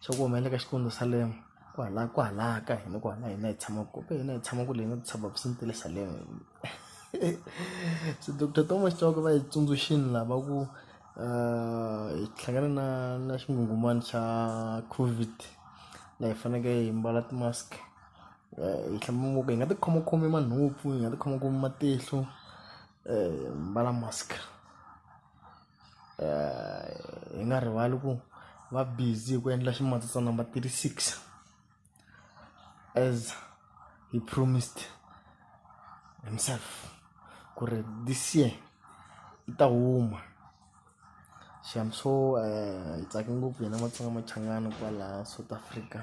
swa ku humelela ka Xikwembu Salem kwala kwala ka hina kwala hina hi tshama ku ka hina hi tshama kule na tshaba ku swi le Salem se doctor Thomas Chauke va hi tsundzuxini lava ku hi hlangana na na xingungumani xa COVID la hi faneke hi mbala ti mask hi hlamba mavoko hi nga ti khomokhomi manhompfu hi nga ti khomokhomi matihlo hi mbala mask. hi nga rivali ku va busy hi ku endla ximatsi number thirty six as he promised himself ku ri this year i ta huma so hi tsake ngopfu hina matsonga machangani kwala South Africa.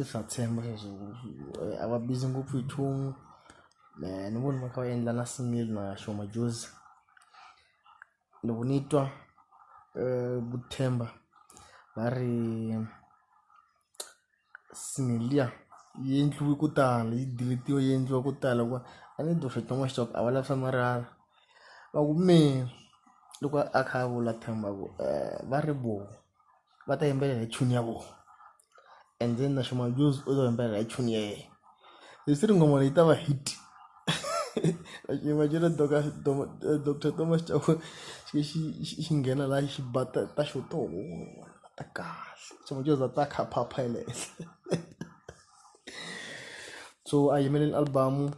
i swa tshemba leswaku a va busy ngopfu hi nchumu mehe ni vona va kha va endla na smell na sure majozi loko ni twa vu themba va ri smell liya yi endliwe ku tala yi deletiwe yi endliwa ku tala hikuva a ni dyohli xikan'we xitoko a va lavi swa marhala va ku mehe loko a kha a vula themba ku va ri voho. va ta yimbelela hi tune ya vona and then na Shuma Jozi u ta yimbelela hi tune ya yena leswi ri nghoma leyi ta va hit imagine doctor doctor Thomas Chauke xi xi xi nghena laha xi ba ta ta xo to ta kahle Shuma Jozi a ta kha a phapha ya le henhla so a yimeleni album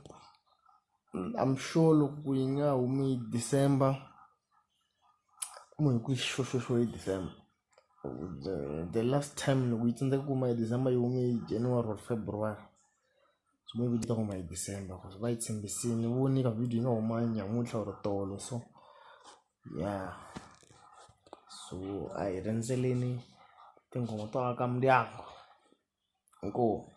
I'm sure loko yi nga humi December Kumbe hi ku i xo xo xo hi December the the last time loko yi tsandzeka ku huma hi December yi hume hi January or February so maybe yi ta huma hi December cause va yi tshembisile ni vone ka video yi nga huma namuntlha or tolo so ya so a hi rindzeleni tinghoma to aka ndyangu inkomu.